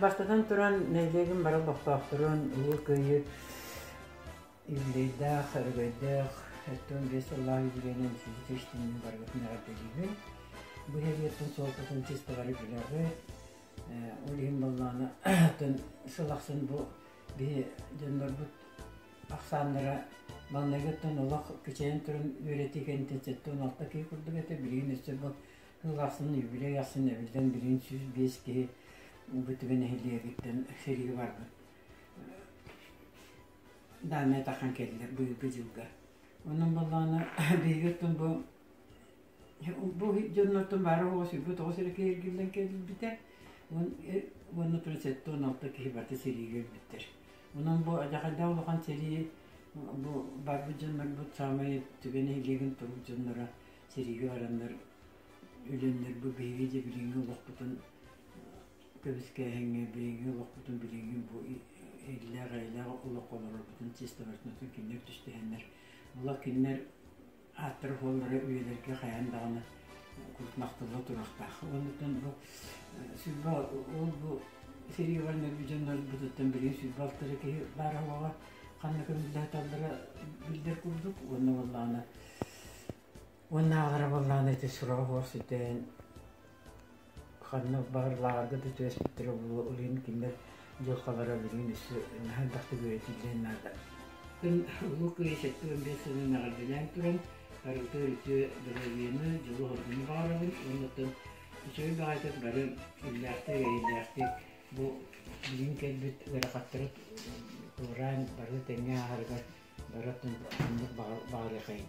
Бастатан туран, нэһилиэгим бары олохтоохторун Улуу Кыайыы юбилейдаах, өрөгөйдөөх, оттон биэс сыллаах юбилейынан сүүрдүкэ иштинин барыгытын эҕэрдэлиибин. Бу нэһилиэктин суолтатын тис бары билэҕи. Ол иһин боллааны атын сыл ахсын бу биһи дьоннорбут ахсааннара маҥнайгыттан олох кичэйэн туран үөрэтии кэнниттэн сэттэ он алта киһи курдук этэ билигин өссө бу кыыл ахсын юбилей ахсын эбиллэн билигин сүүс биэс киһи бу түбэ нэһилиэгиттэн сэрии барбыт даамэ атахан кэллилэр бүгүҥҥү дьылга онон боллооно биһиги оттон бу Бу дьоннортон баара оҕо сүүрбэ тоҕус эрэ киһи эргиллэн кэлбитэ уонна туран сэттэ уон алта киһи барыта сэриигэ өлбүттэр. Онон бу адьахайда улахан сэрии бу барбыт дьоннорбут саамай түгэн нэһилиэгин турбут дьонноро сэриигэ бараннар өлөннөр бу биһиги дьэ билиҥҥи олохпутун көбүскээһиҥҥэ билиҥҥи олохпутун билиҥҥи бу иллээх-эйэлээх олоххо олорорбутун чистовочнотун кинилэр түстэһэннэр олох кинилэр ааттара-суоллара үйэлэргэ хайаан даҕаны курдмахтылла туруохтаах. Оннуттан бу сүрбэ ол бу сериевальнай дьоннорбутуттан билин сүрбэ алтары киһи баара олоҕо ханна көмүллэһиталлара биллэр курдук уонна буоллаҕына уоннааҕылара буоллаҕына ити сураа буор сүтэн Ханнык баҕарылааҕарга да түбэспиттэр буолуо, ылыым кинилэр дьылҕалара билигин өссө наһаа элбэх да үөрэтиллиэн наада. Мин Улуу Кыайыы сэттэ уон биэс сылын эҕэрдэлээн туран арыытыы-арыытыы доруобуйаны, дьолу-соргуну баҕарабын уонна үчүгэй баҕайытык бары иллээхтик, эрэйдээхтик бу билигин кэлбит ыарахаттары туораан бары тэҥҥэ ааһарыгар бары ханнык баҕарыаххайыҥ?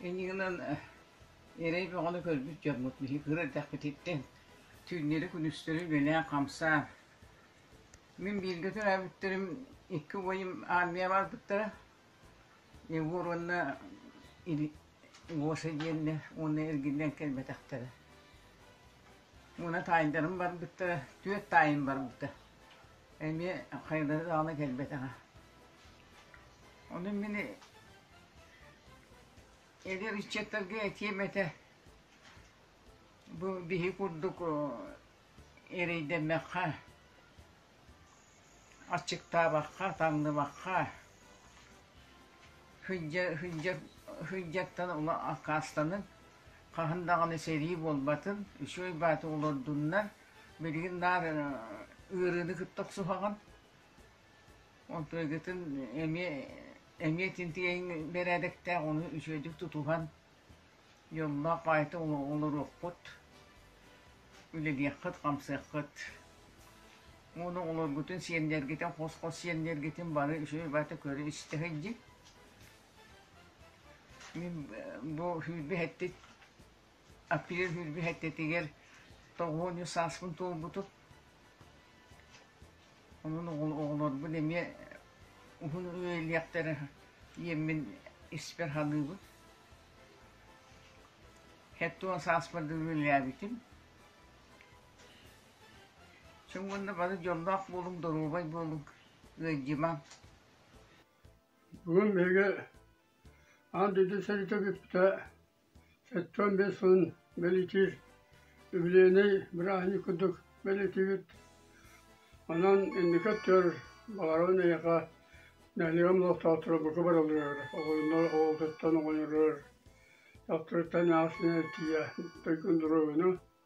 Иннигинэн эрэй бөҕөнү көрбүт дьоммут биһи кыра эрдэхпититтэн түүннэри-күнүстэри үбүлээн хамсаан, мин бииргэ төрөөбүттэрим икки убайым аармыйа барбыттара, Егор уонна Гоша диэннэр уонна эргиллэн кэлбэтэхтэрэ. Уонна таайдарым барбыттара, түөрт таайым барбыта. Эмиэ хайалара даҕаны кэлбэтэҕэ. Ону мин Эгэ ыччаттарга этиэм этэ, бу биһи курдук эрэйдэммэххэ, аччыктаабакка, таҥныбакка сылдьартан ула аккаастаныҥ, хаһан даҕаны сэрии буолбатын, үчүгэй бааты олордуннар, билигин наар ыарыыны кытта охсуһаҕын. Оттон эмиэ эмиэ тинтигэйин бэрээдэктээх ону үчүгэйдик тутуһан дьоллоох баайта олоруоххут, үлэлиэххит, хамсыаххыт. Уонна олоргутун, сиэннэргитин, хос-хос сиэннэргитин бары үчүгэй баайта көрө-истэ дии. Мин бу сүүрбэ сэттэ Аппега күүрбүт эттэтигэр тоҕуонньу сааспын туолбутум. Онон оҕолорбун эмиэ уһун үйэлиэхтэрэ диэммин испэр саныыбын. Сэттэ уон сааспар да үлэлээбитим. Чоң уонна бары дьоллоох буолуҥ, доруобай буолуҥ, ыалдьымаҥ. Бүгүн биһиги аан дойду сэриитэ бүппүтэ Сэттэ-уон биэс сылын бэлитиир үбүлүөйнэй бырааһынньык курдук бэлитибит, онон инники өттүгэр баҕарабын эйиэхэ нэһилиэгим олохтоохторо бука барыларыгар, оҕолонор оҕолортуттан оҕонньорлор, дьахтарыттан эмээхсинэ тиийэ дойгун доруобуйаны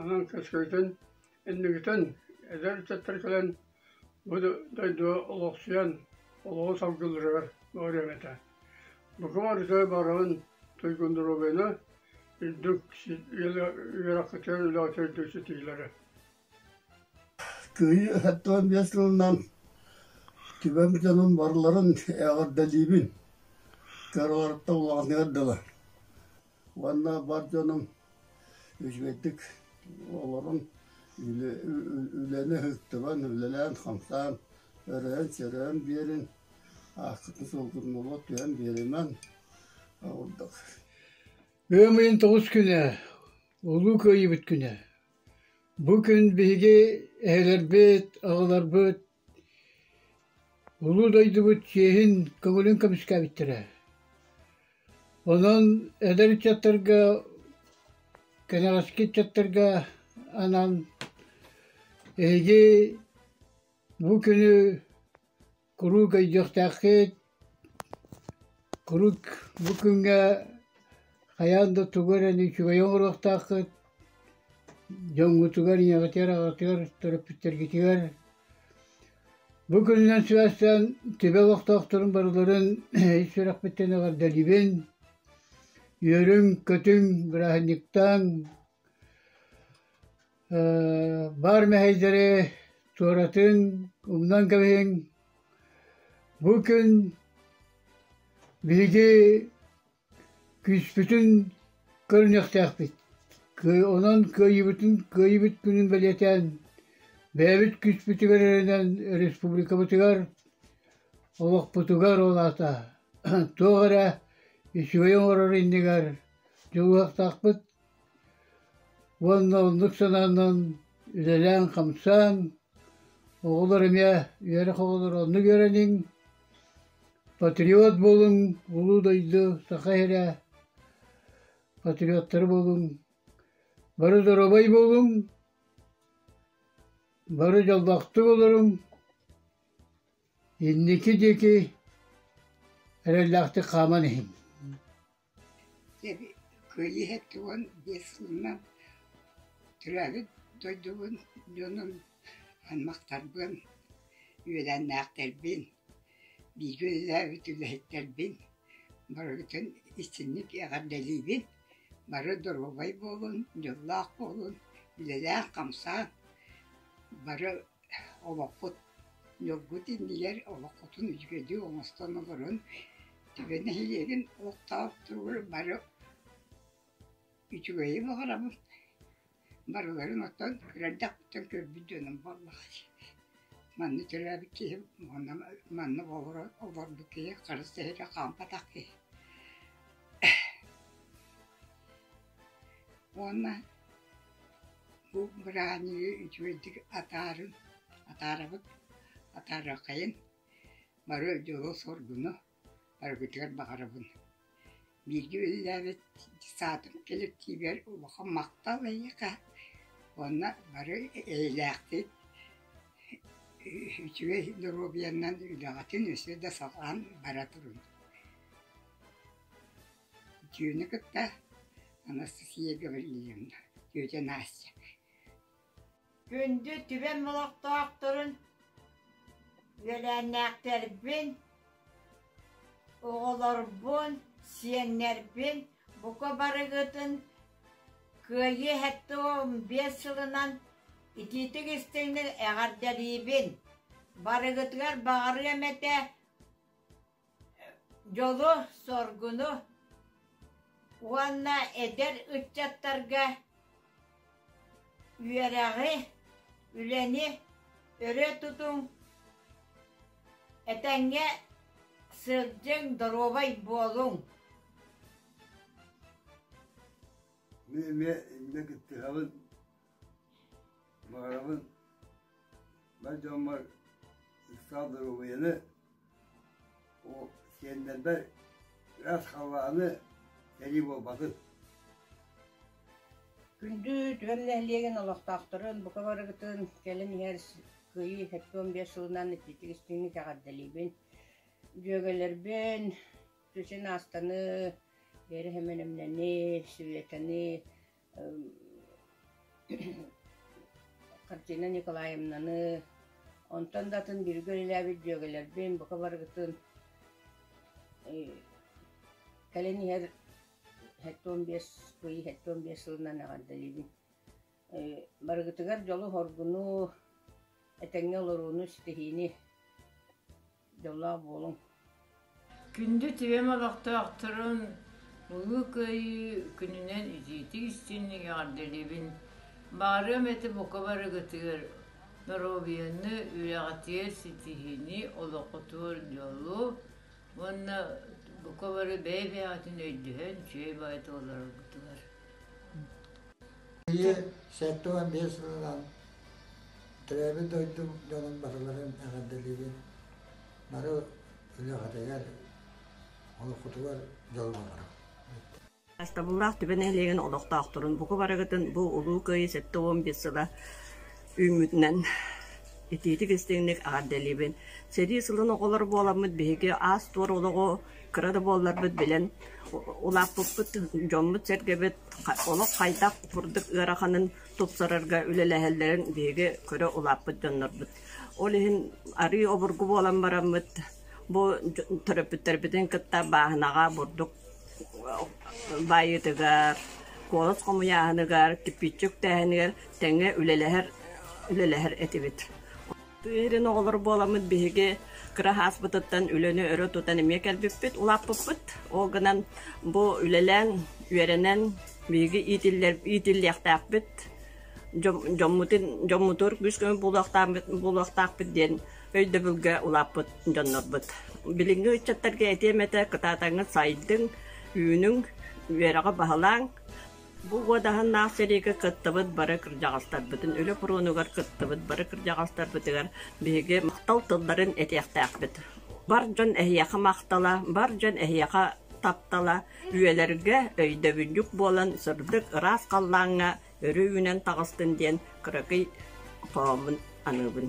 Онон көскөтөн иннигитин эдэр ыччаттар кэлэн бу дойдуга олохсуйан олоҕу салгылларыгар буолуом этэ. Бука барыта барҕын туйгуннуруобайына үрдүк үөрэххитигэр үлэҕитигэр үрдүк ситиилэри. Кыайыы сэттиэн биэс сылынан түбэм дьонун барыларын эҕэрдэлиибин. Кыраларыттан улаҕатыгар дылы. уонна бар дьонуҥ үчүгэйдик олоруҥ, үлэни ыһыктыбан, үлэлээн-хамсаан, өрөйөн-сөрөйөн биэрин, ааккытын сулгуннула түһэн биэримэҥ ордук. Ыам ыйын тоҕус күнэ, Улуу Кыайыыбыт күнэ. Бу күн биһиги эһэлэрбит, аҕаларбыт Улуу дойдубут чиэһин көҥүлүн көмүскээбиттэрэ. Онон эдэр ыччаттарга, кэнэҕэски ыччаттарга анаан эһиги бу күнү куруук өйдүөхтээххит, Куруук бу күҥҥэ хайаан да тугу эрэни үчүгэйи оҥоруохтааххыт, дьоҥҥутугар, ийэҕитигэр-аҕаҕытыгар, төрөппүттэргитигэр бу күнүнэн сибээстээн түбэ олохтоохторун барыларын ис сүрэхпиттэн эҕэрдэлиибин, үөрүҥ-көтүҥ, бырааһынньыктааҥ! баар мэһэйдэри туоратыҥ, умнан кэбиһиҥ. Бу күн биһиги күүспүтүн көрүнүөхтээхпит. Онон кыайыыбытын кыайыыбыт күнүн бэлиэтээн бэйэбит күүспүтүгэр эрэнэн республикабытыгар, олохпутугар ол аата туох эрэ үчүгэй оҥорор иннигэр дьулуһуохтаахпыт. уонна оннук санаанан үлэлээн-хамсаан оҕолор эмиэ үөрэх оҕолоро оннук үөрэниҥ патриот буолуҥ улуу дойду саха иһирэ патриоттары буолуҥ бары доруобай буолуҥ бары дьоллоохтук олоруҥ инники диэки эрэллээхтик хааман иһиҥ Эби, кыайыы эттэ уон биэс сылынан төрөөбүт дойдубун, дьонун, аймахтарбын, үөлээннээхтэрбин, бииргэ үлэлээбит үлэһиттэрбин барыгытын истинник эҕэрдэлиибин, бары доруобай буолун, дьоллоох буолун, үлэлээн-хамсаан, бары Олохпут дьолгут иннигэр олоххутун үчүгэйдик оҥостон олорон Түбэ нэһилиэгин олохтоох туругар бары үчүгэйи баҕарабын. Барыларын оттон кыра эрдэхпиттэн көрбүт дьонум буоллаҕа. Манна төрөөбүт киһим манна манна олоро олорбут киһи харыс сэһэрэ хаампатах киһи. Уонна Бу быраанньыгы үчүгэйдик атаарын, атаарабыт, атаарыаххайын, бары дьолу, соргуну барыбытыгар баҕарабын. Бииргэ үлэлээбит саатын кэлэктиибигэр улахан махтал эйиэхэ уонна бары эйэлээхтик, үчүгэй доруобуйаннан үлэҕитин өссө да саҕалаан бара туруҥ. Дьүөнэ кытта Анастасия Гаврильевна, тетя Настя Күндү түбэм олохтоохторун, үөлээннээхтэрбин, оҕолорбун, сиэннэрбин бука барыгытын кыайыы эһэттэ биэс сылынан итиитик истиҥник эҕэрдэлиибин! Барыгытыгар баҕарыам этэ дьолу, соргуну уонна эдэр ыччаттарга үөрэҕи, үлэни өрө тутуҥ, этэҥҥэ сылдьыҥ, доруобай буолуҥ. Эмиэ кыттыһабын Маарабын бар дьоммор ыксаал доруобуйаны, о сиэннэрбэр ыраас халлааны сэрии буолбатын. Күндү түһэр нэһилиэгин олохтоохторун, бука барыгытын кэлин иһэр кыайыы сэттэ уон биэс сылынан ититик истиҥник эҕэрдэлиибин. Дьүөгэлэрбин сусин аастаны, эрэһэмэнэмнэни, сүветэни, Картина Николаевнаны онтон да атын бииргэ үлэлээбит дьүөгэлэрбин бука барыгытын кэлин иһэр сэттэ уон биэс ый сэттэ уон биэс сылынан эҕэрдэлиибин барыгытыгар дьолу хоргуну этэҥҥэ олорууну ситиһиини дьоллоох буолуҥ күндү тириэм олохтоохторун Улуу Кыайыы күнүнэн итиитик истинник эҕэрдэлиибин баарыам этэ бука барыгытыгар доруобуйаны үрэҕитиэр ситиһини олоххутугар дьолу уонна бука бары бэйэ-бэйэҕитин өйдөһөн үчүгэй баай толороргутугар Ийэ сэттэ уон биэс сылынан Төрөөбүт дойдум дьонун батыларын эҕэрдэлиибин. Бары үлэҕитигэр, олоххутугар дьолумаларым. Астабыллаах түбэ нэһилиэгин олохтоохторун буку барыгытын бу Улуу Кыайыы сэттэ уон биэс сыла үүммүтүнэн итиитик-истиҥник эҕэрдэлиибин. Сэрии сылын оҕолор буоламмыт биһиги аас-туор олоҕу кыра да буолларбыт билэн улааппыппыт дьоммут-сэргэбит олох хайдах курдук ыараханын тупсарарга үлэлэһэллэрин биһиги көрө улааппыт дьоннорбут. Ол иһин арыы обургу буолан бараммыт, бу төрөппүттэрбитин кытта бааһынаҕа бурдук баайыытыгар, куолас хомуйааһыныгар, кипиччик тээһинигэр тэҥҥэ үлэлэһэр үлэлэһэр этибит. Тыы иһирин оҕолор буоламмыт биһиги кыра ааспытыттан үлэни өрө тутан эмиэ кэлбиппит, улааппыппыт. Ол гынан бу үлэлээн, үөрэнэн биһиги иитиллиэхтээхпит, дьоммутун дьоммутур күүс-көмө буолуохтаахпыт диэн өйдөбүлгэ улааппыт дьоннорбут. Билиҥҥи ыччаттарга этиэм этэ, кытаатаҥҥын сайдыҥ, үүнүҥ, үөрэҕи баһылааҥ, Бу уодаһыннаах сэриигэ кыттыбыт бары кырдьаҕастарбытын, үлэ фронугар кыттыбыт бары кырдьаҕастарбытыгар биһиги махтал тылларын этиэхтээхпит. Бар дьон эһиэхэ махтала, бар дьон эһиэхэ таптала, үйэлэргэ өйдөбүнньүк буолан сырдык ыраас халлааҥҥа өрүү үүнэн таҕыстын диэн кыракый хооммун аныыбын.